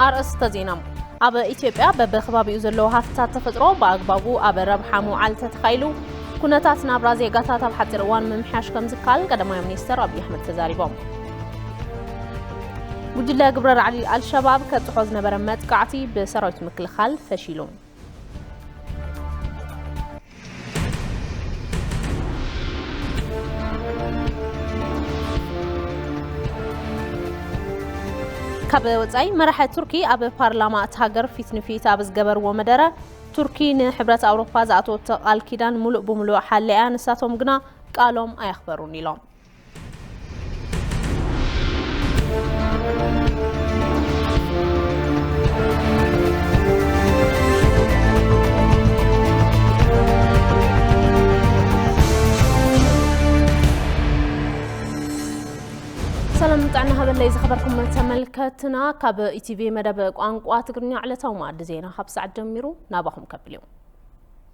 ኣርእስተ ዜና ኣብ ኢትዮጵያ በብከባቢኡ ዘለዉ ሃፍትታት ተፈጥሮ ብኣግባቡ ኣብ ረብሓ ምውዓል ተተኻኢሉ ኩነታት ናብራ ዜጋታት ኣብ ሓፂር እዋን ምምሕያሽ ከም ዝከኣል ቀዳማይ ሚኒስትር ኣብዪ ኣሕመድ ተዛሪቦም። ጉጅለ ግብረ ራዕዲ ኣልሸባብ ከብፅሖ ዝነበረ መጥቃዕቲ ብሰራዊት ምክልኻል ፈሺሉ። ካብ ወፃኢ መራሒ ቱርኪ ኣብ ፓርላማ እቲ ሃገር ፊት ንፊት ኣብ ዝገበርዎ መደረ ቱርኪ ንሕብረት ኣውሮፓ ዝኣተወቶ ቃል ኪዳን ሙሉእ ብሙሉእ ሓሊያ ንሳቶም ግና ቃሎም ኣየኽበሩን ኢሎም። ሰላም ጥዕና ሃበለይ ዝኸበርኩም ተመልከትና ካብ ኢቲቪ መደብ ቋንቋ ትግርኛ ዕለታዊ መኣዲ ዜና ካብ ሰዓት ጀሚሩ ናባኹም ከብል እዩ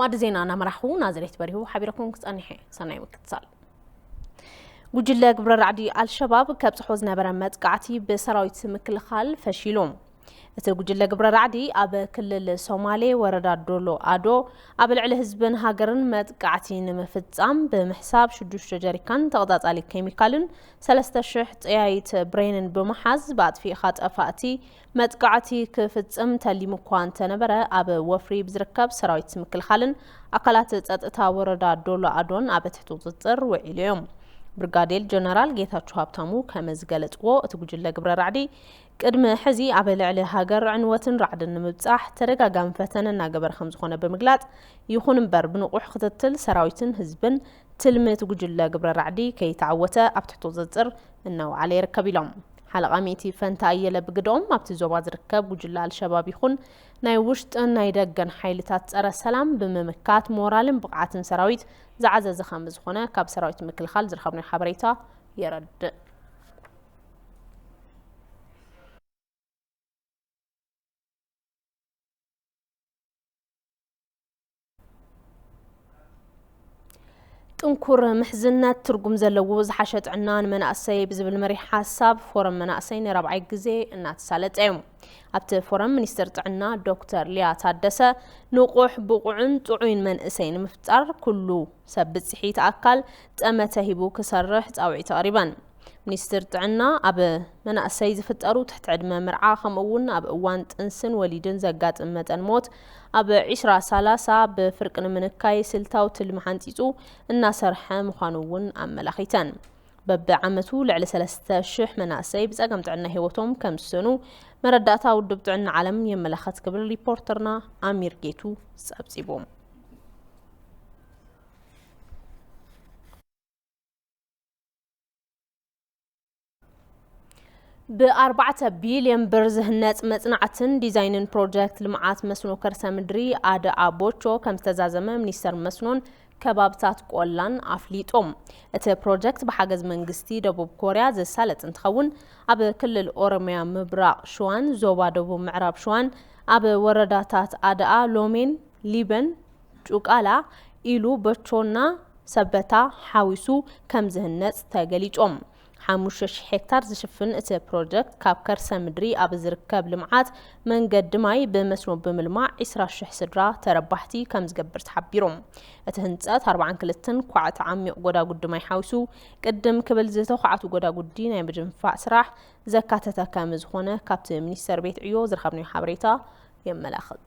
ማዕዲ ዜና እናመራሕኹ ናዝሬት በሪሁ ሓቢረኩም ክጸኒሐ ሰናይ ምክትሳል ጉጅለ ግብረ ራዕዲ ኣልሸባብ ከብጽሖ ዝነበረ መጥቃዕቲ ብሰራዊት ምክልኻል ፈሺሉ እቲ ጉጅለ ግብረ ራዕዲ ኣብ ክልል ሶማሌ ወረዳ ዶሎ ኣዶ ኣብ ልዕሊ ህዝብን ሃገርን መጥቃዕቲ ንምፍጻም ብምሕሳብ ሽዱሽተ ጀሪካን ተቐጻጻሊ ኬሚካልን ሰለስተ ሽሕ ጠያይት ብሬንን ብምሓዝ ብኣጥፊእኻ ጠፋእቲ መጥቃዕቲ ክፍጽም ተሊሙ እኳ እንተነበረ ኣብ ወፍሪ ብዝርከብ ሰራዊት ምክልኻልን ኣካላት ጸጥታ ወረዳ ዶሎ ኣዶን ኣብ ትሕቲ ቁፅፅር ውዒሉ እዮም። ብርጋዴር ጀነራል ጌታቸው ሃብታሙ ከም ዝገለጽዎ እቲ ጉጅለ ግብረ ራዕዲ ቅድሚ ሕዚ ኣብ ልዕሊ ሃገር ዕንወትን ራዕድን ንምብጻሕ ተደጋጋሚ ፈተነ እናገበረ ከም ዝኾነ ብምግላጽ ይኹን እምበር ብንቑሕ ክትትል ሰራዊትን ህዝብን ትልሚ እቲ ጉጅለ ግብረ ራዕዲ ከይተዓወተ ኣብ ትሕቲ ቁፅፅር እናውዓለ ይርከብ ኢሎም። ሓለቓ ሚእቲ ፈንታ ኣየለ ብግደኦም፣ ኣብቲ ዞባ ዝርከብ ጉጅለ ኣልሸባብ ይኹን ናይ ውሽጥን ናይ ደገን ሓይልታት ፀረ ሰላም ብምምካት ሞራልን ብቕዓትን ሰራዊት ዝዓዘዘ ከምዝኾነ ካብ ሰራዊት ምክልኻል ዝረኸብናዮ ሓበሬታ የረድእ። ጥንኩር ምሕዝነት ትርጉም ዘለዎ ዝሓሸ ጥዕና ንመናእሰይ ብዝብል መሪሕ ሓሳብ ፎረም መናእሰይ ንራብዓይ ግዜ እናተሳለጠ እዩ ኣብቲ ፎረም ሚኒስትር ጥዕና ዶክተር ሊያ ታደሰ ንቑሕ ብቑዕን ጥዑይን መንእሰይ ንምፍጣር ኩሉ ሰብ ብፅሒት ኣካል ጠመተ ሂቡ ክሰርሕ ፃውዒት ኣቕሪበን ሚኒስትር ጥዕና ኣብ መናእሰይ ዝፍጠሩ ትሕቲ ዕድመ ምርዓ ከምኡ እውን ኣብ እዋን ጥንስን ወሊድን ዘጋጥም መጠን ሞት ኣብ ዒስራ ሳላሳ ብፍርቂ ንምንካይ ስልታዊ ትልሚ ሓንፂፁ እናሰርሐ ምዃኑ እውን ኣመላኺተን። በብዓመቱ ልዕሊ ሰለስተ ሽሕ መናእሰይ ብፀገም ጥዕና ህይወቶም ከም ዝስእኑ መረዳእታ ውድብ ጥዕና ዓለም የመላኸት ክብል ሪፖርተርና ኣሚር ጌቱ ፀብፂቡ። ብኣርባዕተ ቢልዮን ብር ዝህነፅ መፅናዕትን ዲዛይንን ፕሮጀክት ልምዓት መስኖ ከርሰ ምድሪ ኣደ ኣቦቾ ከም ዝተዛዘመ ሚኒስተር መስኖን ከባብታት ቆላን ኣፍሊጦም። እቲ ፕሮጀክት ብሓገዝ መንግስቲ ደቡብ ኮርያ ዝሳለጥ እንትኸውን ኣብ ክልል ኦሮሚያ ምብራቕ ሸዋን ዞባ ደቡብ ምዕራብ ሸዋን ኣብ ወረዳታት ኣደኣ፣ ሎሜን፣ ሊበን ጩቃላ ኢሉ በቾና ሰበታ ሓዊሱ ከም ዝህነፅ ተገሊፆም። ሓሙሽተ ሺሕ ሄክታር ዝሽፍን እቲ ፕሮጀክት ካብ ከርሰ ምድሪ ኣብ ዝርከብ ልምዓት መንገዲ ማይ ብመስኖ ብምልማዕ ዒስራ ሺሕ ስድራ ተረባሕቲ ከም ዝገብር ተሓቢሮም። እቲ ህንፀት ኣርብዓን ክልተን ኳዕቲ ዓሚቕ ጎዳጉዲ ማይ ሓዊሱ ቅድም ክብል ዝተዃዕቱ ጎዳጉዲ ናይ ምድንፋዕ ስራሕ ዘካተተ ከም ዝኾነ ካብቲ ሚኒስቴር ቤት ዕዮ ዝረኸብናዮ ሓበሬታ የመላኽት።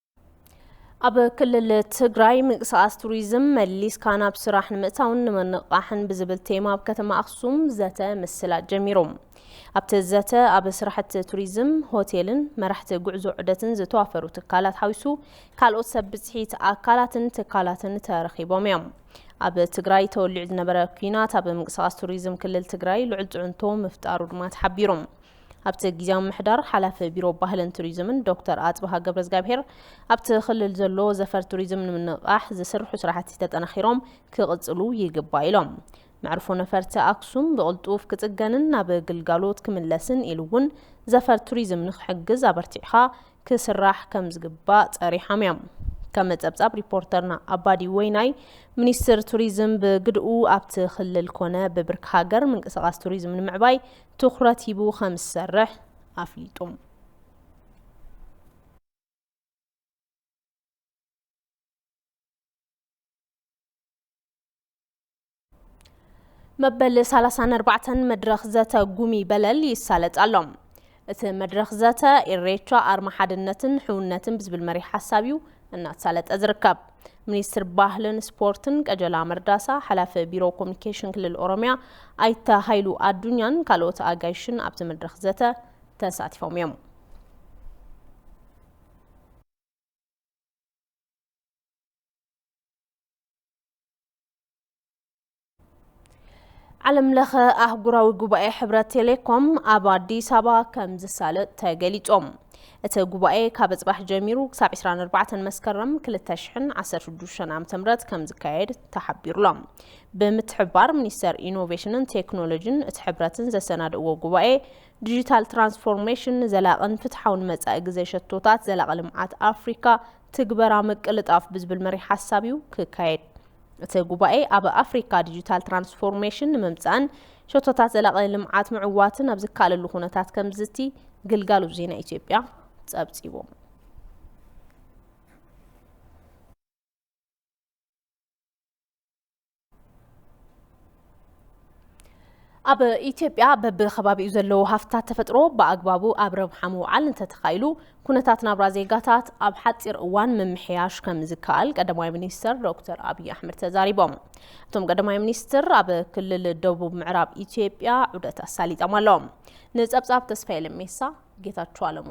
ኣብ ክልል ትግራይ ምንቅስቓስ ቱሪዝም መሊስካ ናብ ስራሕ ንምእታውን ንምንቕቓሕን ብዝብል ቴማ ኣብ ከተማ ኣክሱም ዘተ ምስላ ጀሚሩ። ኣብቲ ዘተ ኣብ ስራሕቲ ቱሪዝም፣ ሆቴልን መራሕቲ ጉዕዞ ዑደትን ዝተዋፈሩ ትካላት ሓዊሱ ካልኦት ሰብ ብፅሒት ኣካላትን ትካላትን ተረኺቦም እዮም። ኣብ ትግራይ ተወሊዑ ዝነበረ ኩናት ኣብ ምንቅስቓስ ቱሪዝም ክልል ትግራይ ልዑል ፅዕንቶ ምፍጣሩ ድማ ተሓቢሩ። ኣብቲ ጊዚያዊ ምምሕዳር ሓላፊ ቢሮ ባህልን ቱሪዝምን ዶክተር ኣፅብሃ ገብረዝጋብሄር ኣብቲ ክልል ዘሎ ዘፈር ቱሪዝም ንምንቕቓሕ ዝስርሑ ስራሕቲ ተጠናኺሮም ክቕፅሉ ይግባእ ኢሎም። መዕርፎ ነፈርቲ ኣክሱም ብቕልጡፍ ክፅገንን ናብ ግልጋሎት ክምለስን ኢሉ እውን ዘፈር ቱሪዝም ንክሕግዝ ኣበርቲዕኻ ክስራሕ ከምዝግባእ ፀሪሖም እዮም። ከም ፀብፃብ ሪፖርተርና ኣባዲ ወይናይ ሚኒስትር ቱሪዝም ብግድኡ ኣብቲ ክልል ኮነ ብብርኪ ሃገር ምንቅስቓስ ቱሪዝም ንምዕባይ ትኹረት ሂቡ ከምዝሰርሕ ኣፍሊጡ። መበል ሳላሳን ኣርባዕተን መድረኽ ዘተ ጉሚ በለል ይሳለጥ ኣሎ እቲ መድረኽ ዘተ ኢሬቻ ኣርማ ሓድነትን ሕውነትን ብዝብል መሪሕ ሓሳብ እዩ እናተሳለጠ ዝርከብ ሚኒስትር ባህልን ስፖርትን ቀጀላ መርዳሳ፣ ሓላፊ ቢሮ ኮሚኒኬሽን ክልል ኦሮሚያ ኣይተ ሃይሉ ኣዱኛን ካልኦት ኣጋይሽን ኣብቲ መድረኽ ዘተ ተሳቲፎም እዮም። ዓለም ለኸ ኣህጉራዊ ጉባኤ ሕብረት ቴሌኮም ኣብ ኣዲስ ኣበባ ከም ዝሳለጥ ተገሊጾም እቲ ጉባኤ ካብ ጽባሕ ጀሚሩ ክሳብ 24 መስከረም 2016 ዓ ም ከም ዝካየድ ተሓቢሩሎም ብምትሕባር ሚኒስቴር ኢኖቬሽንን ቴክኖሎጂን እቲ ሕብረትን ዘሰናድእዎ ጉባኤ ዲጂታል ትራንስፎርሜሽን ዘላቕን ፍትሓውን መጻኢ ግዜ ሸቶታት ዘላቒ ልምዓት ኣፍሪካ ትግበራ ምቅልጣፍ ብዝብል መሪሕ ሓሳብ እዩ ክካየድ እቲ ጉባኤ ኣብ ኣፍሪካ ዲጂታል ትራንስፎርሜሽን ንምምፃእን ሸቶታት ዘላቒ ልምዓት ምዕዋትን ኣብ ዝካለሉ ኩነታት ከምዝዝቲ ግልጋሎት ዜና ኢትዮጵያ ፀብፂቡ። ኣብ ኢትዮጵያ በብከባቢኡ ዘለዉ ሃፍትታት ተፈጥሮ ብኣግባቡ ኣብ ረብሓ ምውዓል እንተተኻኢሉ ኩነታት ናብራ ዜጋታት ኣብ ሓፂር እዋን ምምሕያሽ ከም ዝከኣል ቀዳማይ ሚኒስትር ዶክተር ኣብዪ ኣሕመድ ተዛሪቦም። እቶም ቀዳማይ ሚኒስትር ኣብ ክልል ደቡብ ምዕራብ ኢትዮጵያ ዑደት ኣሳሊጦም ኣለዎም። ንፀብፃብ ተስፋዬ ለሜሳ ጌታቸው ኣለሙ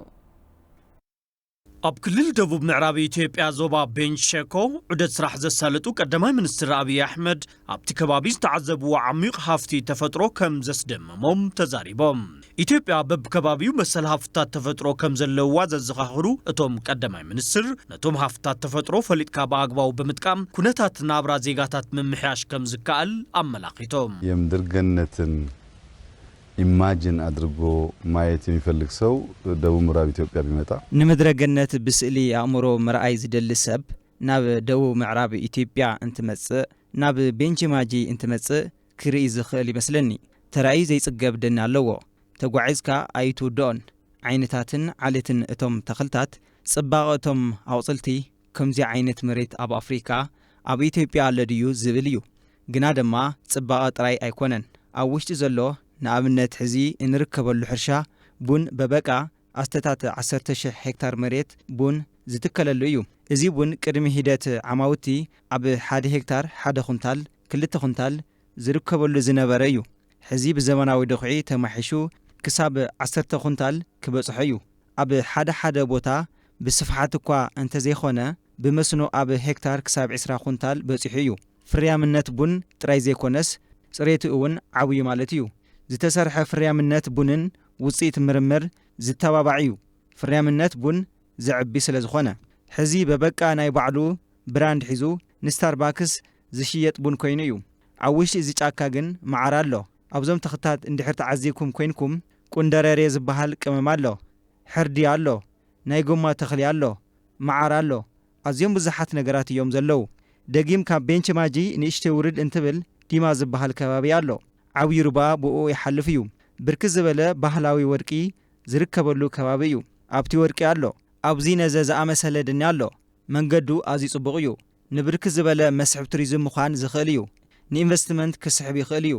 ኣብ ክልል ደቡብ ምዕራብ ኢትዮጵያ ዞባ ቤንች ሸኮ ዑደት ስራሕ ዘሳለጡ ቀዳማይ ሚኒስትር ኣብዪ ኣሕመድ ኣብቲ ከባቢ ዝተዓዘብዎ ዓሚዩቕ ሃፍቲ ተፈጥሮ ከም ዘስደመሞም ተዛሪቦም። ኢትዮጵያ በብከባቢኡ መሰል ሃፍትታት ተፈጥሮ ከም ዘለውዋ ዘዘኻኽሩ እቶም ቀዳማይ ሚኒስትር ነቶም ሃፍትታት ተፈጥሮ ፈሊጥካ ብኣግባቡ ብምጥቃም ኩነታት ናብራ ዜጋታት ምምሕያሽ ከም ዝከኣል ኣመላኺቶም። የምድር ገነትን ኢማጅን ኣድርጎ ማየት የሚፈልግ ሰው ደቡብ ምራብ ኢትዮጵያ ቢመጣ። ንምድረ ገነት ብስእሊ ኣእምሮ ምርኣይ ዝደሊ ሰብ ናብ ደቡብ ምዕራብ ኢትዮጵያ እንትመጽእ ናብ ቤንች ማጂ እንትመጽእ ክርኢ ዝኽእል ይመስለኒ። ተራእዩ ዘይጽገብ ደኒ ኣለዎ። ተጓዒዝካ ኣይትውድኦን። ዓይንታትን ዓሌትን እቶም ተኽልታት፣ ጽባቐ እቶም ኣቑጽልቲ፣ ከምዚ ዓይነት መሬት ኣብ ኣፍሪካ፣ ኣብ ኢትዮጵያ ኣሎ ድዩ ዝብል እዩ። ግና ደማ ጽባቐ ጥራይ ኣይኮነን ኣብ ውሽጢ ዘሎ ንኣብነት ሕዚ እንርከበሉ ሕርሻ ቡን በበቃ ኣስተታት ዓሰርተ ሽሕ ሄክታር መሬት ቡን ዝትከለሉ እዩ እዚ ቡን ቅድሚ ሂደት ዓማውቲ ኣብ ሓደ ሄክታር ሓደ ኩንታል ክልተ ኩንታል ዝርከበሉ ዝነበረ እዩ ሕዚ ብዘመናዊ ድኹዒ ተማሒሹ ክሳብ ዓሰርተ ኩንታል ክበጽሖ እዩ ኣብ ሓደ ሓደ ቦታ ብስፍሓት እኳ እንተዘይኮነ ብመስኖ ኣብ ሄክታር ክሳብ ዕስራ ኩንታል በጺሑ እዩ። ፍርያምነት ቡን ጥራይ ዘይኮነስ ጽሬቱ እውን ዓብዩ ማለት እዩ። ዝተሰርሐ ፍርያምነት ቡንን ውጽኢት ምርምር ዝተባባዕ እዩ፣ ፍርያምነት ቡን ዘዕቢ ስለዝኾነ። ሕዚ በበቃ ናይ ባዕሉ ብራንድ ሒዙ ንስታርባክስ ዝሽየጥ ቡን ኮይኑ እዩ። ኣብ ውሽጢ እዚ ጫካ ግን መዓር ኣሎ። ኣብዞም ተኽታት እንድሕር ተዓዚብኩም ኮይንኩም ቁንደረሬ ዝበሃል ቅመም ኣሎ፣ ሕርዲ ኣሎ፣ ናይ ጎማ ተኽሊ ኣሎ፣ መዓር ኣሎ፣ ኣዝዮም ብዙሓት ነገራት እዮም ዘለዉ። ደጊም ካብ ቤንች ማጂ ንእሽተይ ውርድ እንትብል ዲማ ዝበሃል ከባቢ ኣሎ። ዓብዩ ሩባ ብኡኡ ይሓልፍ እዩ። ብርክት ዝበለ ባህላዊ ወርቂ ዝርከበሉ ከባቢ እዩ። ኣብቲ ወርቂ ኣሎ። ኣብዚ ነዘ ዝኣመሰለ ድኒ ኣሎ። መንገዱ ኣዝዩ ጽቡቕ እዩ። ንብርክት ዝበለ መስሕብ ቱሪዝም ምዃን ዝኽእል እዩ። ንኢንቨስትመንት ክስሕብ ይኽእል እዩ።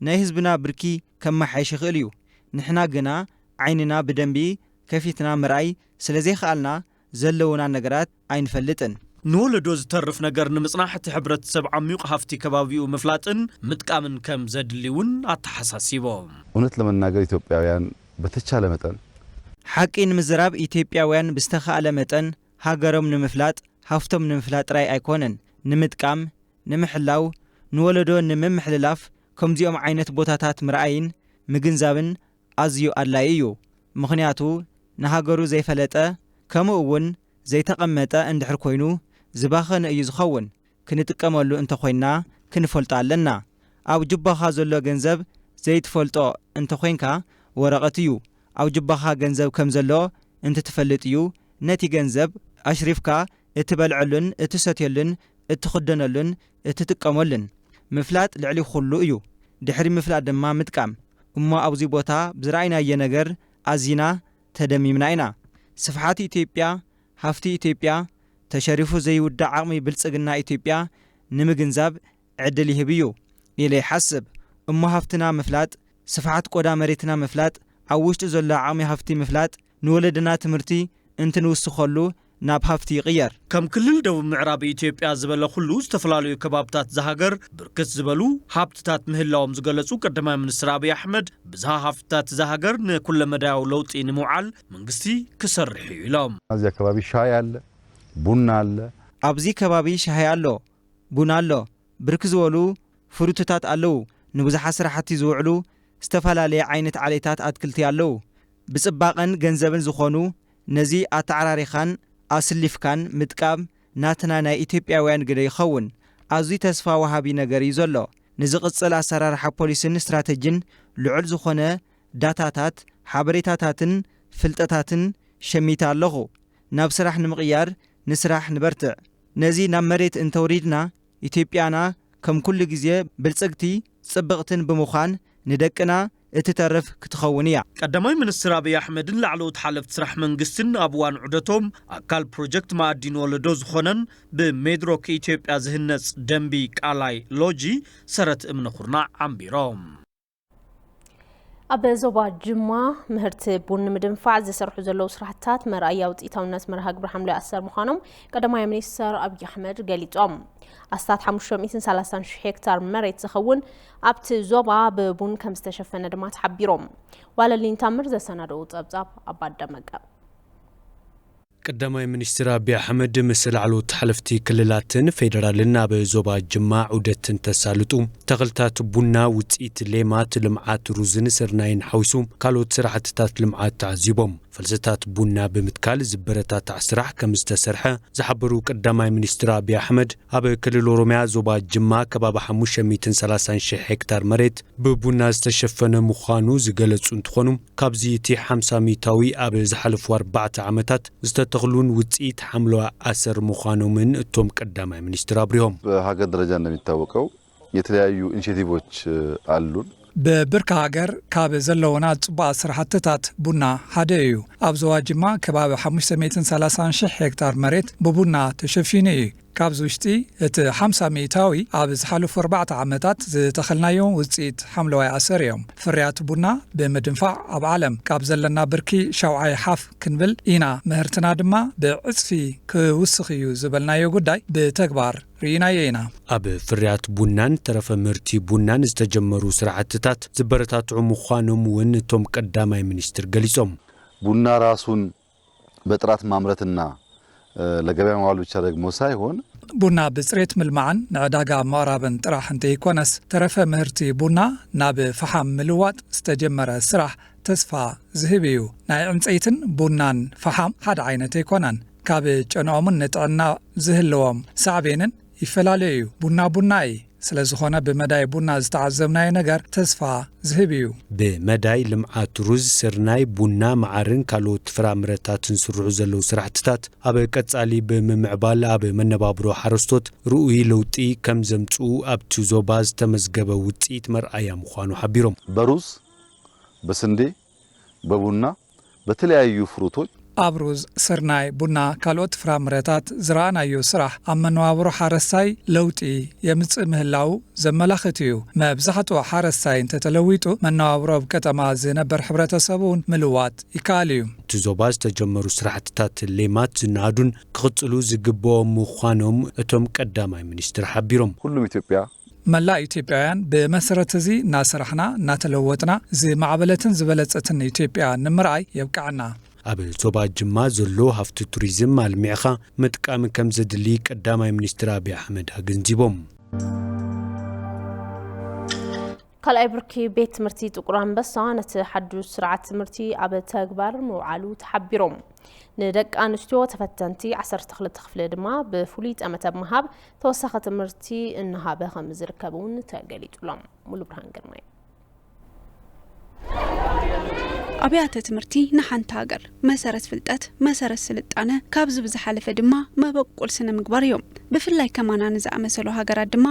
ናይ ህዝብና ብርኪ ከመሓይሽ ይኽእል እዩ። ንሕና ግና ዓይንና ብደንቢ ከፊትና ምርኣይ ስለዘይኸኣልና ዘለዉና ነገራት ኣይንፈልጥን። ንወለዶ ዝተርፍ ነገር ንምጽናሕ እቲ ሕብረተሰብ ዓሚዩቕ ሃፍቲ ከባቢኡ ምፍላጥን ምጥቃምን ከም ዘድሊ እውን ኣተሓሳሲቦም። እውነት ለመናገር ኢትዮጵያውያን በተቻለ መጠን። ሓቂ ንምዝራብ ኢትዮጵያውያን ብዝተኻእለ መጠን ሃገሮም ንምፍላጥ ሃፍቶም ንምፍላጥ ጥራይ ኣይኮነን ንምጥቃም፣ ንምሕላው፣ ንወለዶ ንምምሕልላፍ ከምዚኦም ዓይነት ቦታታት ምርኣይን ምግንዛብን ኣዝዩ ኣድላይ እዩ ምኽንያቱ ንሃገሩ ዘይፈለጠ ከሙኡ ውን ዘይተቀመጠ እንድሕር ኮይኑ ዝባኸነ እዩ ዝኸውን ክንጥቀመሉ እንተ ኮይንና ክንፈልጦ ኣለና ኣብ ጁባኻ ዘሎ ገንዘብ ዘይትፈልጦ እንተ ኮይንካ ወረቀት እዩ ኣብ ጁባኻ ገንዘብ ከም ዘሎ እንትትፈልጥ እዩ ነቲ ገንዘብ ኣሽሪፍካ እትበልዐሉን እትሰትዮሉን እትኽደነሉን እትጥቀመሉን ምፍላጥ ልዕሊ ኹሉ እዩ። ድሕሪ ምፍላጥ ድማ ምጥቃም። እሞ ኣብዚ ቦታ ብዝረኣይናዮ ነገር ኣዚና ተደሚምና ኢና። ስፍሓት ኢትዮጵያ፣ ሃፍቲ ኢትዮጵያ፣ ተሸሪፉ ዘይውዳእ ዓቕሚ ብልፅግና ኢትዮጵያ ንምግንዛብ ዕድል ይህብ እዩ ኢለ ይሓስብ። እሞ ሃፍትና ምፍላጥ፣ ስፍሓት ቆዳ መሬትና ምፍላጥ፣ ኣብ ውሽጡ ዘሎ ዓቕሚ ሃፍቲ ምፍላጥ፣ ንወለድና ትምህርቲ እንትንውስኸሉ ናብ ሃፍቲ ይቕየር። ከም ክልል ደቡብ ምዕራብ ኢትዮጵያ ዝበለ ኩሉ ዝተፈላለዩ ከባብታት እዛ ሃገር ብርክት ዝበሉ ሃብትታት ምህላዎም ዝገለፁ ቀዳማይ ሚኒስትር ኣብይ ኣሕመድ ብዝሃ ሃፍትታት እዛ ሃገር ንኩለመዳያዊ ለውጢ ንምውዓል መንግስቲ ክሰርሕ እዩ ኢሎም። ኣብዚ ኣከባቢ ሻሂ ኣለ ቡና ኣለ። ኣብዚ ከባቢ ሻሂ ኣሎ ቡና ኣሎ። ብርክ ዝበሉ ፍሩትታት ኣለዉ፣ ንብዙሓት ስራሕቲ ዝውዕሉ ዝተፈላለየ ዓይነት ዓሌታት ኣትክልቲ ኣለዉ፣ ብጽባቐን ገንዘብን ዝኾኑ ነዚ ኣተዓራሪኻን ኣስሊፍካን ምጥቃም ናትና ናይ ኢትዮጵያውያን ግደ ይኸውን፣ ኣዝዩ ተስፋ ወሃቢ ነገር እዩ ዘሎ፣ ንዝቕጽል ኣሰራርሓ ፖሊስን ስትራተጂን ልዑል ዝኾነ ዳታታት፣ ሓበሬታታትን ፍልጠታትን ሸሚተ ኣለኹ፣ ናብ ስራሕ ንምቕያር ንስራሕ ንበርትዕ። ነዚ ናብ መሬት እንተውሪድና ኢትዮጵያና ከም ኩሉ ግዜ ብልጽግቲ ጽብቕትን ብምዃን ንደቅና እትተርፍ ክትኸውን እያ። ቀዳማይ ሚኒስትር ኣቢይ ኣሕመድን ላዕለዎት ሓለፍቲ ስራሕ መንግስቲን ኣብ እዋን ዑደቶም ኣካል ፕሮጀክት መኣዲ ንወለዶ ዝኾነን ብሜድሮክ ኢትዮጵያ ዝህነፅ ደምቢ ቃላይ ሎጂ ሰረት እምኒ ኩርናዕ ዓምቢሮም። ኣብ ዞባ ጅማ ምህርቲ ቡን ንምድንፋዕ ዝስርሑ ዘለዉ ስራሕትታት መርኣያ ውፅኢታውነት መርሃ ግብሪ ሓምላይ ኣሰር ምዃኖም ቀዳማይ ሚኒስትር ኣብዪ ኣሕመድ ገሊፆም። ኣስታት 530 ሽሕ ሄክታር መሬት ዝኸውን ኣብቲ ዞባ ብቡን ከም ዝተሸፈነ ድማ ተሓቢሮም። ዋለልኝ ታምር ዘሰናደኡ ፀብፃብ ኣባደመቀ ቀዳማይ ሚኒስትር ኣቢይ ኣሕመድ ምስ ላዕለዎት ሓለፍቲ ክልላትን ፌደራልን ኣብ ዞባ ጅማ ዑደት እንተሳልጡ፣ ተኽልታት ቡና፣ ውፅኢት ሌማት ልምዓት ሩዝን ስርናይን ሓዊሱ ካልኦት ስራሕትታት ልምዓት ተዓዚቦም። ፈልስታት ቡና ብምትካል ዝበረታታዕ ስራሕ ከምዝተሰርሐ ዝሓበሩ ቀዳማይ ሚኒስትር ኣቢይ ኣሕመድ፣ ኣብ ክልል ኦሮሚያ ዞባ ጅማ ከባቢ ሓሙሽተ ሚእትን ሰላሳን ሺሕ ሄክታር መሬት ብቡና ዝተሸፈነ ምዃኑ ዝገለፁ እንትኾኑ፣ ካብዚ እቲ ሓምሳ ሚታዊ ኣብ ዝሓለፉ ኣርባዕተ ዓመታት ዝተተኽሉን ውፅኢት ሓምለዋ ኣሰር ምዃኖምን እቶም ቀዳማይ ሚኒስትር ኣብሪሆም። በሃገር ደረጃ እንደሚታወቀው የተለያዩ ኢኒሼቲቮች ኣሉን። ብብርኪ ሃገር ካብ ዘለውና ፅቡቓት ስራሕትታት ቡና ሓደ እዩ። ኣብ ዞባ ጅማ ከባቢ ሓሙሽተ ሚእትን ሰላሳን ሺሕ ሄክታር መሬት ብቡና ተሸፊኑ እዩ። ካብዚ ውሽጢ እቲ ሓምሳ ሚኢታዊ ኣብ ዝሓለፉ ኣርባዕተ ዓመታት ዝተኸልናዮ ውፅኢት ሓምለዋይ ኣሰር እዮም። ፍርያት ቡና ብምድንፋዕ ኣብ ዓለም ካብ ዘለና ብርኪ ሻውዓይ ሓፍ ክንብል ኢና፣ ምህርትና ድማ ብዕፅፊ ክውስኽ እዩ ዝበልናዮ ጉዳይ ብተግባር ርኢናዮ ኢና። ኣብ ፍርያት ቡናን ተረፈ ምህርቲ ቡናን ዝተጀመሩ ስራሕትታት ዝበረታትዑ ምዃኖም እውን እቶም ቀዳማይ ሚኒስትር ገሊፆም። ቡና ራሱን በጥራት ማምረትና ለገበያ ማዋል ብቻ ደግሞ ሳይሆን። ቡና ብፅሬት ምልማዕን ንዕዳጋ ምቕራብን ጥራሕ እንተይኮነስ ተረፈ ምህርቲ ቡና ናብ ፈሓም ምልዋጥ ዝተጀመረ ስራሕ ተስፋ ዝህብ እዩ። ናይ ዕንፀይትን ቡናን ፈሓም ሓደ ዓይነት ኣይኮነን። ካብ ጨንኦምን ንጥዕና ዝህልዎም ሳዕቤንን። ይፈላለ እዩ ቡና ቡና እዪ ስለዝኾነ ብመዳይ ቡና ዝተዓዘብናዮ ነገር ተስፋ ዝህብ እዩ። ብመዳይ ልምዓት ሩዝ፣ ስርናይ፣ ቡና፣ መዓርን ካልኦት ፍራምረታትን ዝስርሑ ዘለዉ ስራሕትታት ኣብ ቀፃሊ ብምምዕባል ኣብ መነባብሮ ሓረስቶት ርኡይ ለውጢ ከምዘምፅኡ ኣብቲ ዞባ ዝተመዝገበ ውፅኢት መርኣያ ምዃኑ ሓቢሮም። በሩዝ፣ በስንዴ፣ በቡና በተለያዩ ፍሩቶች። ኣብ ሩዝ፣ ስርናይ፣ ቡና፣ ካልኦት ፍራምረታት ዝረኣናዮ ስራሕ ኣብ መነባብሮ ሓረስታይ ለውጢ የምጽእ ምህላዉ ዘመላኽት እዩ። መብዛሕትኡ ሓረስታይ እንተተለዊጡ መነባብሮ ኣብ ቀጠማ ዝነበር ሕብረተሰብ'ውን ምልዋጥ ይከኣል እዩ። ኣብቲ ዞባ ዝተጀመሩ ስራሕትታት ሌማት ዝነኣዱን ክቕፅሉ ዝግበኦም ምዃኖም እቶም ቀዳማይ ሚኒስትር ሓቢሮም። ሁሉም ኢትዮጵያ መላእ ኢትዮጵያውያን ብመሰረት እዚ እናሰራሕና እናተለወጥና ዝማዕበለትን ዝበለፀትን ኢትዮጵያ ንምርኣይ የብቅዐና። ኣብ ዞባ ጅማ ዘሎ ሃፍቲ ቱሪዝም ኣልሚዕኻ ምጥቃም ከምዘድሊ ቀዳማይ ሚኒስትር ኣቢይ ኣሕመድ ኣገንዚቦም። ካልኣይ ብርኪ ቤት ትምህርቲ ጥቁር ኣንበሳ ነቲ ሓዱሽ ስርዓት ትምህርቲ ኣብ ተግባር ምውዓሉ ተሓቢሮም። ንደቂ ኣንስትዮ ተፈተንቲ 12 ክፍሊ ድማ ብፍሉይ ጠመተ ብምሃብ ተወሳኺ ትምህርቲ እናሃበ ከም ዝርከብ እውን ተገሊጹሎም ሙሉብርሃን ግርማይ ኣብያተ ትምህርቲ ንሓንቲ ሃገር መሰረት ፍልጠት፣ መሰረት ስልጣነ፣ ካብዚ ብዝሓለፈ ድማ መበቆል ስነ ምግባር እዮም። ብፍላይ ከማና ንዝኣመሰሉ ሃገራት ድማ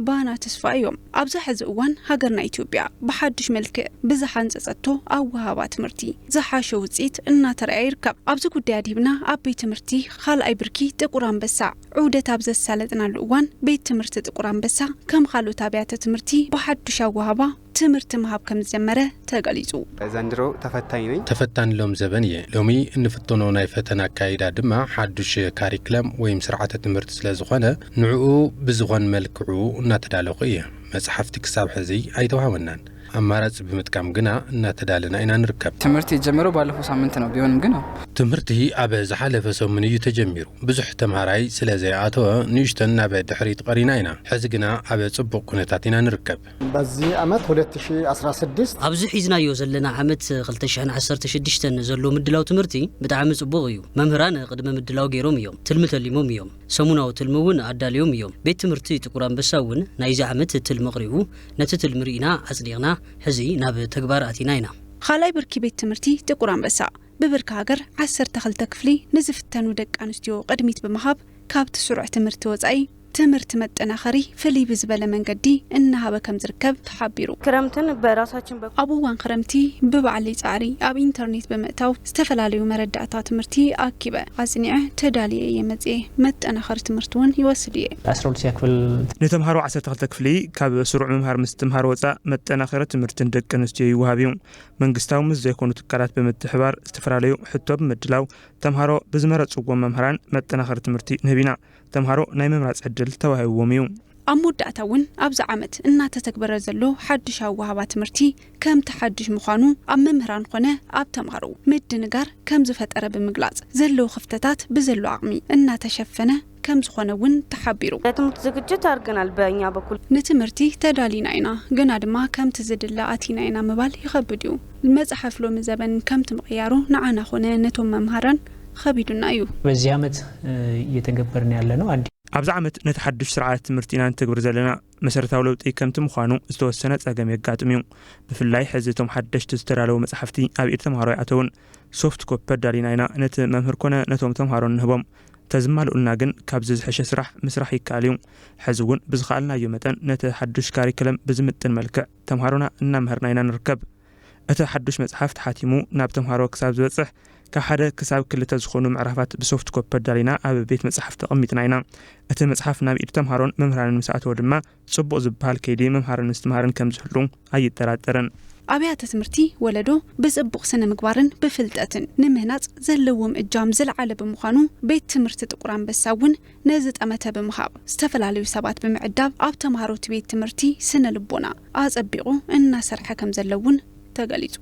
ባና ተስፋ እዮም። ኣብዚ ሕዚ እዋን ሃገርና ኢትዮጵያ ብሓዱሽ መልክዕ ብዝሓንፀፀቶ ኣወሃህባ ትምህርቲ ዝሓሸ ውፅኢት እናተረኣየ ይርከብ። ኣብዚ ጉዳይ ኣድሂብና ኣብ ቤት ትምህርቲ ኻልኣይ ብርኪ ጥቁር ኣንበሳ ዑደት ኣብ ዘሳለጥናሉ እዋን ቤት ትምህርቲ ጥቁር ኣንበሳ ከም ኻልኦት ኣብያተ ትምህርቲ ብሓዱሽ ኣወሃህባ ትምህርቲ ምሃብ ከምዝጀመረ ተገሊፁ። ዘንድሮ ተፈታኝ ነኝ። ተፈታኒ ሎም ዘበን እየ። ሎሚ እንፍተኖ ናይ ፈተና ኣካይዳ ድማ ሓዱሽ ካሪክለም ወይም ስርዓተ ትምህርቲ ስለ ዝኾነ ንዕኡ ብዝኾን መልክዑ እናተዳለኹ እየ። መፅሓፍቲ ክሳብ ሕዚ ኣይተውሃበናን። ኣማራፂ ብምጥቃም ግና እናተዳለና ኢና ንርከብ። ትምህርት የጀመረው ባለፈው ሳምንት ነው ቢሆንም ግን ያው ትምህርቲ ኣብ ዝሓለፈ ሰሙን እዩ ተጀሚሩ ብዙሕ ተምሃራይ ስለ ዘይኣተወ ንእሽተን ናብ ድሕሪት ቐሪና ኢና ሕዚ ግና ኣብ ፅቡቕ ኩነታት ኢና ንርከብ። በዚ ዓመት ሁለት ሺህ ኣስራ ስድስት። ኣብዚ ሒዝናዮ ዘለና ዓመት ክልተ ሽሕን ዓሰርተ ሽዱሽተን ዘሎ ምድላው ትምህርቲ ብጣዕሚ ፅቡቕ እዩ። መምህራን ቕድመ ምድላው ገይሮም እዮም፣ ትልሚ ተሊሞም እዮም፣ ሰሙናዊ ትልሚ እውን ኣዳልዮም እዮም። ቤት ትምህርቲ ጥቁር ኣንበሳ እውን ናይዚ ዓመት ትልሚ ኣቕሪቡ ነቲ ትልሚ ርኢና ኣጽዲቕና ሕዚ ናብ ተግባር ኣቲና ኢና። ኻልኣይ ብርኪ ቤት ትምህርቲ ጥቁር ኣንበሳ ብብርኪ ሃገር ዓሰርተ ክልተ ክፍሊ ንዝፍተኑ ደቂ ኣንስትዮ ቅድሚት ብምሃብ ካብቲ ስሩዕ ትምህርቲ ወፃኢ ትምህርቲ መጠናኸሪ ፍልይ ብዝበለ መንገዲ እናሃበ ከምዝርከብ ተሓቢሩ። ክረምትን በራሳችን በኩል። ኣብ እዋን ኽረምቲ ብባዕለይ ፃዕሪ ኣብ ኢንተርኔት ብምእታው ዝተፈላለዩ መረዳእታ ትምህርቲ ኣኪበ፣ ኣጽኒዐ፣ ተዳልየ እየ መጺኤ። መጠናኸሪ ትምህርቲ እውን ይወስድ እየ። ዓስራ ሁለተኛ ክፍል። ንተምሃሮ ዓሰርተ ክልተ ክፍሊ ካብ ስሩዕ ምምሃር ምስ ትምሃር ወፃእ መጠናኸሪ ትምህርቲ ንደቂ ኣንስትዮ ይወሃብ እዩ። መንግስታዊ ምስ ዘይኮኑ ትካላት ብምትሕብባር ዝተፈላለዩ ሕቶ ብምድላው ተምሃሮ ብዝመረፅዎም መምህራን መጠናኸሪ ትምህርቲ ንህብ ኢና። ተምሃሮ ናይ ምምራፅ ዕድል ተዋሂብዎም እዩ። ኣብ መወዳእታ እውን ኣብዚ ዓመት እናተተግበረ ዘሎ ሓዱሽ ኣወሃህባ ትምህርቲ ከምቲ ሓዱሽ ምዃኑ ኣብ መምህራን ኾነ ኣብ ተምሃሮ ምድንጋር ከምዝፈጠረ ብምግላፅ ዘለዉ ክፍተታት ብዘሎ ዓቕሚ እናተሸፈነ ከምዝኾነ እውን ተሓቢሩ። ለትምህርት ዝግጅት ኣርገናል በእኛ በኩል። ንትምህርቲ ተዳሊና ኢና ግና ድማ ከምቲ ዝድለ ኣቲና ኢና ምባል ይኸብድ እዩ። መፅሐፍ ሎሚ ዘበን ከምቲ ምቕያሩ ንዓና ኾነ ነቶም መምሃራን ኸቢዱና እዩ። በዚ ዓመት እየተገበርና ያለነው ኣዲ። ኣብዚ ዓመት ነቲ ሓዱሽ ስርዓት ትምህርቲ ኢና ንተግብር ዘለና። መሰረታዊ ለውጢ ከምቲ ምዃኑ ዝተወሰነ ጸገም የጋጥም እዩ። ብፍላይ ሕዚ እቶም ሓደሽቲ ዝተዳለዉ መጻሕፍቲ ኣብ ኢድ ተምሃሮ ኣይኣተውን። ሶፍት ኮፒ ኣዳሊና ኢና ነቲ መምህር ኮነ ነቶም ተምሃሮ እንህቦም። ተዝማልኡልና ግን ካብዚ ዝሐሸ ስራሕ ምስራሕ ይከኣል እዩ። ሕዚ እውን ብዝኸኣልናዮ መጠን ነቲ ሓዱሽ ካሪክለም ብዝምጥን መልክዕ ተምሃሮና እናመሀርና ኢና ንርከብ። እቲ ሓዱሽ መጽሓፍ ተሓቲሙ ናብ ተምሃሮ ክሳብ ዝበጽሕ፣ ካብ ሓደ ክሳብ ክልተ ዝኾኑ ምዕራፋት ብሶፍት ኮፒ ኣዳሊና ኣብ ቤት መጻሕፍቲ ኣቐሚጥና ኢና። እቲ መጽሓፍ ናብ ኢድ ተምሃሮን መምህራንን ምስ ኣተወ ድማ ጽቡቕ ዝበሃል ከይዲ ምምሃርን ምስትምሃርን ከም ዝህሉ ኣይጠራጠርን። ኣብያተ ትምህርቲ ወለዶ ብጽቡቕ ስነ ምግባርን ብፍልጠትን ንምህናጽ ዘለዎም እጃም ዝለዓለ ብምዃኑ ቤት ትምህርቲ ጥቁር ኣንበሳ እውን ነዚ ጠመተ ብምሃብ ዝተፈላለዩ ሰባት ብምዕዳብ ኣብ ተምሃሮ እቲ ቤት ትምህርቲ ስነ ልቦና ኣፀቢቑ እናሰርሐ ከምዘሎ እውን ተገሊፁ።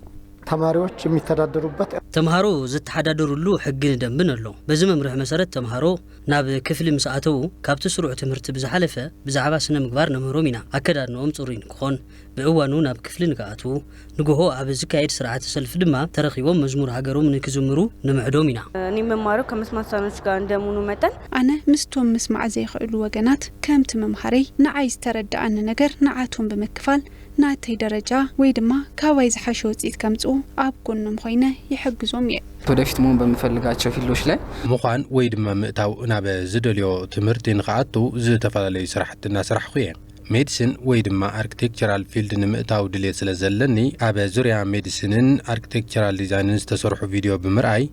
ተማሪዎች የሚተዳደሩበት። ተምሃሮ ዝተሓዳደሩሉ ሕግን ደንብን ኣሎ። በዚ መምርሒ መሰረት ተምሃሮ ናብ ክፍሊ ምስ ኣተዉ ካብቲ ስሩዕ ትምህርቲ ብዝሓለፈ ብዛዕባ ስነ ምግባር ነምህሮም ኢና። ኣከዳድንኦም ፅሩይ ንክኾን፣ ብእዋኑ ናብ ክፍሊ ንክኣትዉ፣ ንጎሆ ኣብ ዝካየድ ስርዓተ ሰልፊ ድማ ተረኺቦም መዝሙር ሃገሮም ንክዝምሩ ንምዕዶም ኢና። ኒመማሮ ከመስማሳኖች ጋር እንደምኑ መጠን ኣነ ምስቶም ምስማዕ ዘይክእሉ ወገናት ከምቲ ምምሃረይ ንዓይ ዝተረደኣኒ ነገር ንዓቶም ብምክፋል ናተይ ደረጃ ወይ ድማ ካባይ ዝሓሸ ውፅኢት ከምፅኡ ኣብ ጎኖም ኾይነ ይሕግዞም እየ። ወደፊት መሆን በምፈልጋቸው ፊልዶች ላይ። ምዃን ወይ ድማ ምእታው ናብ ዝደልዮ ትምህርቲ ንኽኣቱ ዝተፈላለዩ ስራሕቲ እናሰራሕኹ እየ። ሜዲሲን ወይ ድማ ኣርክቴክቸራል ፊልድ ንምእታው ድልየት ስለ ዘለኒ ኣብ ዙርያ ሜዲሲንን ኣርክቴክቸራል ዲዛይንን ዝተሰርሑ ቪድዮ ብምርኣይ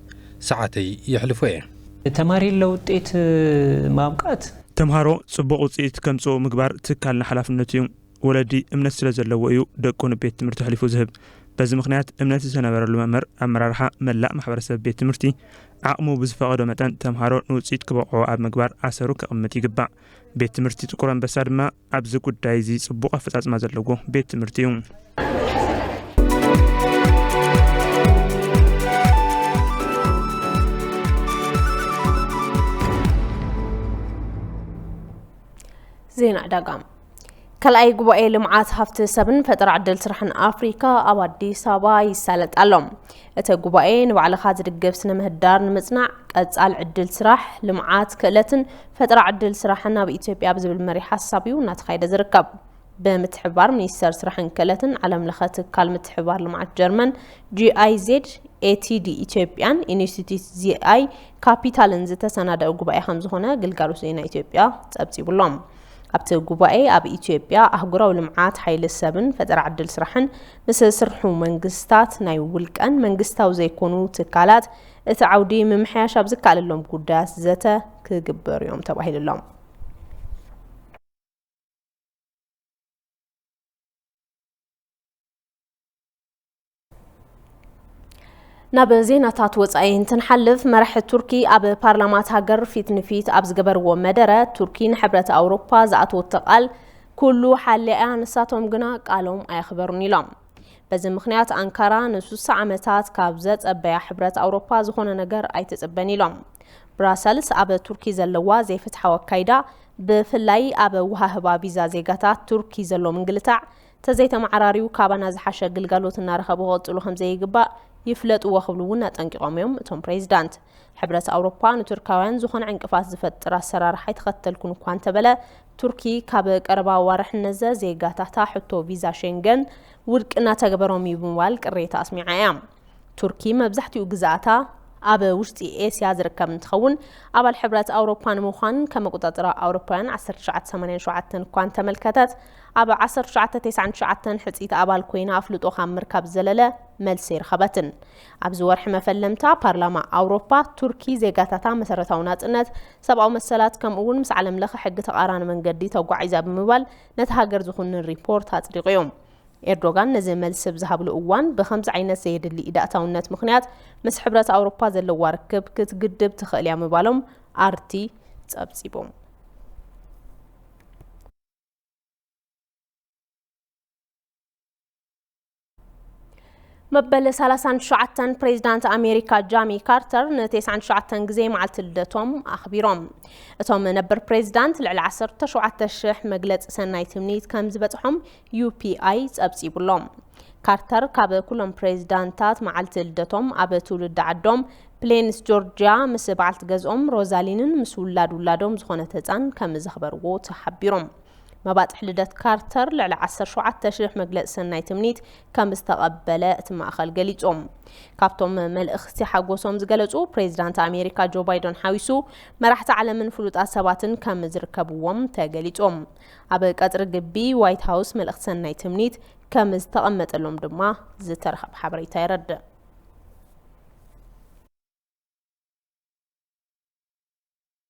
ሰዓተይ የሕልፎ እየ። ተማሪለ ውጤት ማብቃት። ተምሃሮ ፅቡቕ ውፅኢት ከምፅኡ ምግባር ትካልና ሓላፍነቱ እዩ። ወለዲ እምነት ስለዘለዎ እዩ ደቁ ንቤት ትምህርቲ ኣሕሊፉ ዝህብ። በዚ ምኽንያት እምነት ዝተነበረሉ መምህር፣ ኣመራርሓ፣ መላእ ማሕበረሰብ ቤት ትምህርቲ ዓቕሙ ብዝፈቐዶ መጠን ተምሃሮ ንውፅኢት ክበቕዑ ኣብ ምግባር ኣሰሩ ከቕምጥ ይግባእ። ቤት ትምህርቲ ጥቁር ኣንበሳ ድማ ኣብዚ ጉዳይ እዚ ፅቡቕ ኣፈፃፅማ ዘለዎ ቤት ትምህርቲ እዩ። ዜና ዕዳጋ ካልኣይ ጉባኤ ልምዓት ሃፍቲ ሰብን ፈጠራ ዕድል ስራሕን ኣፍሪካ ኣብ ኣዲስ ኣበባ ይሳለጥ ኣሎ። እቲ ጉባኤ ንባዕልኻ ዝድግፍ ስነ ምህዳር ንምፅናዕ ቀፃል ዕድል ስራሕ፣ ልምዓት ክእለትን ፈጠራ ዕድል ስራሕን ኣብ ኢትዮጵያ ብዝብል መሪ ሓሳብ እዩ እናተኻየደ ዝርከብ። ብምትሕብባር ሚኒስቴር ስራሕን ክእለትን ዓለም ለኸ ትካል ምትሕብባር ልምዓት ጀርመን ጂኣይዜድ ኤቲዲ ኢትዮጵያን ኢንስቲትዩት ዚኣይ ካፒታልን ዝተሰናደአ ጉባኤ ከምዝኾነ ግልጋሎት ዜና ኢትዮጵያ ፀብፂቡሎም። ኣብቲ ጉባኤ ኣብ ኢትዮጵያ ኣህጉራዊ ልምዓት ሓይሊ ሰብን ፈጠራ ዕድል ስራሕን ምስ ዝስርሑ መንግስታት፣ ናይ ውልቀን መንግስታዊ ዘይኮኑ ትካላት እቲ ዓውዲ ምምሕያሽ ኣብ ዝከኣለሎም ጉዳያት ዘተ ክግበሩ እዮም ተባሂሉሎም። ናብ ዜናታት ወፃኢ እንትንሓልፍ መራሒ ቱርኪ ኣብ ፓርላማት ሃገር ፊት ንፊት ኣብ ዝገበርዎ መደረ ቱርኪ ንሕብረት ኣውሮፓ ዝኣተወቶ ቃል ኩሉ ሓሊኣ'ያ፣ ንሳቶም ግና ቃሎም ኣየኽበሩን ኢሎም። በዚ ምኽንያት ኣንካራ ንሱሳ ዓመታት ካብ ዘጸበያ ሕብረት ኣውሮፓ ዝኾነ ነገር ኣይትጽበን ኢሎም። ብራሰልስ ኣብ ቱርኪ ዘለዋ ዘይፍትሓዊ ኣካይዳ ብፍላይ ኣብ ኣወሃህባ ቪዛ ዜጋታት ቱርኪ ዘሎ ምንግልታዕ ተዘይተመዓራርዩ ካባና ዝሓሸ ግልጋሎት እናረኸቡ ክቕጽሉ ከምዘይግባእ ይፍለጥዎ ክብሉ እውን ኣጠንቂቖም እዮም እቶም ፕሬዚዳንት። ሕብረት ኣውሮፓ ንቱርካውያን ዝኾነ ዕንቅፋት ዝፈጥር ኣሰራርሓ ኣይተኸተልኩን እኳ እንተበለ ቱርኪ ካብ ቀረባ ኣዋርሕ ነዘ ዜጋታታ ሕቶ ቪዛ ሸንገን ውድቂ እናተገበሮም እዩ ብምባል ቅሬታ ኣስሚዓ እያ ቱርኪ መብዛሕትኡ ግዝኣታ ኣብ ውሽጢ ኤስያ ዝርከብ እንትኸውን ኣባል ሕብረት ኣውሮፓ ንምዃን ከም ኣቆፃፅራ ኣውሮፓውያን 1987 እኳ እንተመልከተት ኣብ 1999 ሕፅይቲ ኣባል ኮይና ኣፍልጦ ካብ ምርካብ ዘለለ መልሲ ኣይረኸበትን ኣብዚ ወርሒ መፈለምታ፣ ፓርላማ ኣውሮፓ፣ ቱርኪ ዜጋታታ መሰረታዊ ናጽነት፣ ሰብኣዊ መሰላት ከምኡ'ውን ምስ ዓለምለኸ ሕጊ ተቓራኒ መንገዲ ተጓዒዛ ብምባል ነታ ሃገር ዝኹንን ሪፖርት ኣጽዲቑ'ዩ። ኤርዶጋን ነዚ መልሲ ብ ዝሃብሉ እዋን ብኸምዚ ዓይነት ዘየድሊ ኢዳእታውነት ምኽንያት ምስ ሕብረት ኣውሮፓ ዘለዋ ርክብ ክትግድብ ትኽእል'ያ ምባሎም ኣርቲ ጸብጺቡ። መበል 39 ፕሬዚዳንት ኣሜሪካ ጃሚ ካርተር ን99 ግዜ መዓልቲ ልደቶም ኣኽቢሮም እቶም ነበር ፕሬዚዳንት ልዕሊ 17000 መግለፂ ሰናይ ትምኒት ከም ዝበፅሖም ዩፒኣይ ፀብፂቡሎም ካርተር ካብ ኩሎም ፕሬዚዳንታት መዓልቲ ልደቶም ኣብ ትውልዲ ዓዶም ፕሌንስ ጆርጅያ ምስ በዓልቲ ገዝኦም ሮዛሊንን ምስ ውላድ ውላዶም ዝኾነት ህፃን ከም ዘኽበርዎ ተሓቢሮም መባፅሕ ልደት ካርተር ልዕሊ ዓሰርተ ሸውዓተ ሽሕ መግለፂ ሰናይ ትምኒት ከም ዝተቐበለ እቲ ማእኸል ገሊፆም። ካብቶም መልእኽቲ ሓጎሶም ዝገለፁ ፕሬዚዳንት ኣሜሪካ ጆ ባይደን ሓዊሱ መራሕቲ ዓለምን ፍሉጣት ሰባትን ከም ዝርከብዎም ተገሊፆም። ኣብ ቀፅሪ ግቢ ዋይት ሃውስ መልእኽቲ ሰናይ ትምኒት ከም ዝተቐመጠሎም ድማ ዝተረኸበ ሓበሬታ የረድእ።